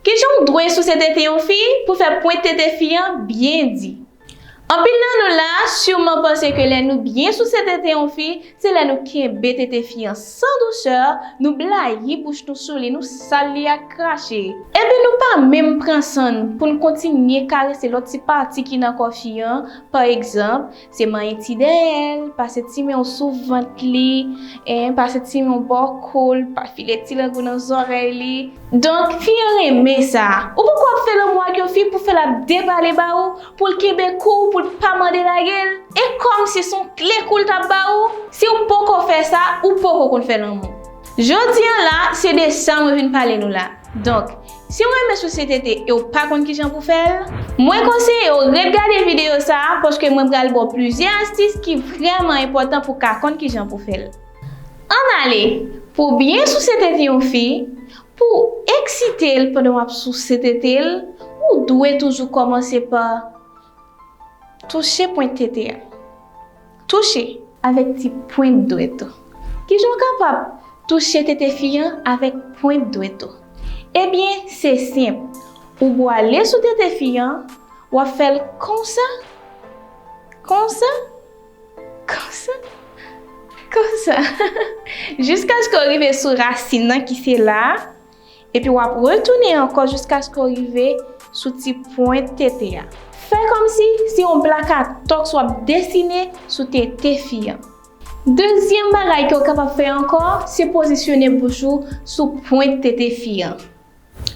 Kijan w dwe souse tete yon fi pou fè pwent tete fi an byen di? Anpil nan nou la a siman panse ke lè nou byen souse tete yon fi, se lè nou kenbe tete fi an san dousè, nou blayi bouch nou sou li, nou sal li ak krache, epi nou pa menm pran san n pou n kontinye karese lòt ti pati ki nan kò fi an, pa egzanp, Se manyen ti dèyè l, pase ti men w sou vant li, en, pase ti men w bò kou l, pa file ti lang ou nan zòrèy li. Donk, fi an renmen sa. Ou poko ap fè lanmou ak yon fi pou fè l ap depale ba ou, pou l kenbe kou w, pou l pa mande lage l? E kòm si s on kle kou l t ap ba ou? Si w poko fè sa, ou poko konn fè lanmou. Jodi an la, se de sa mwen vin pale nou la. Donk. Si w renmen sosyete te e w pa konn kijan pou fè l, mwen konseye w ret gade videyo sa a paske mwen pral ba w plizyè astis ki vrèman enpòtan pou w ka konn kijan pou fè l. Ann ale pou w byen souse tete yon fi pou w eksite l pandan w ap souse tete l ou dwe toujou kòmanse pa. Touche pwent tete a. Touche. Avèk ti pwent dwèt ou. Kijan w kapab touche tete fi an avèk pwent dwèt ou? Ebyen, se senp. Ou bwale sou tete fi an, w ap fè l konsa, konsa, konsa, konsa, jiskaske w rive sou rasin nan ki se la a, Epi w ap retounen ankò jiskaske w rive sou ti pwent tete a. Fè kòmsi se yon plakatòks w ap desine sou tete fi an. Dezyèm bagay ke w kapab fè ankò, se pozisyone bouch ou sou pwent tete fi an.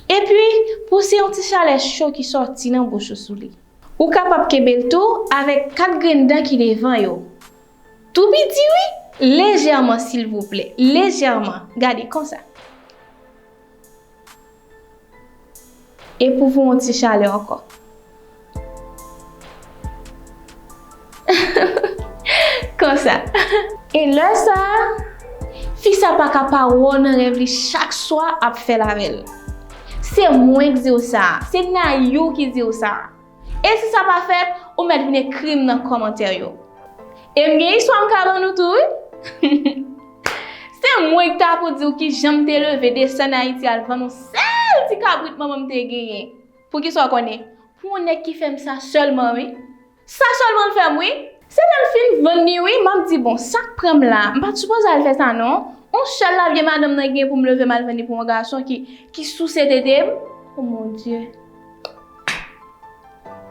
Epi, pouse yon ti chalè cho ki sòti nan bouch ou sou li. Ou kapab kenbe l tou avèk kat grenn dan ki devan yo. Tou piti wi, lejèman silvouplè, lejèman, gade konsa. E pou voun ti chalè ankò. Konsa. E lè sa, fi sa pa ka pa wè w nan rèv li chak swa ap fè l avè l. Se mwen k di w sa, se Nayou ki di w sa. E si sa pa fèt, ou mèt vin ekri m nan kòmantè yo. E m gen istwa m ka ban nou tou wi. Se mwen k ta pou di w ki jan m te leve desann Ayiti al vann yon sèl ti kabrit manman m te genyen. Poukisa w konnen? Pou yon nèg ki fè m sa sèlman wi. Sa sèlman l fè m wi. Se lè m fin vann li wi, m ap di bon, sa k pran m la a? M pa t sipoze al fè sa non. Yon sèl lavye madanm nan gen pou m leve m al vann li pou yon gason ki souse tete m? O Mon Dye!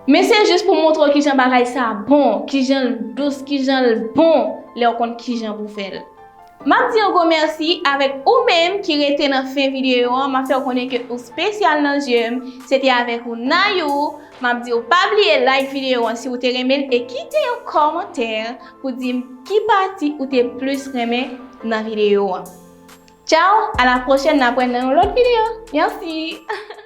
Men se jis pou montre w kijan bagay sa bon, kijan l dous, kijan l bon lè w konn kijan pou fè l. M ap di yon gwo mèsi avèk ou menm ki rete nan fen videyo an, m ap fè w konnen ke ou spesyal nan zye m. Se te avèk ou Nayou, m ap di w pa bliye like videyo an si w te renmen l e kite yon kòmantè pou di m ki pati ou te plis renmen nan videyo an. Tchaw, a la pwochèn n ap wè nan yon lòt videyo. Mèsi!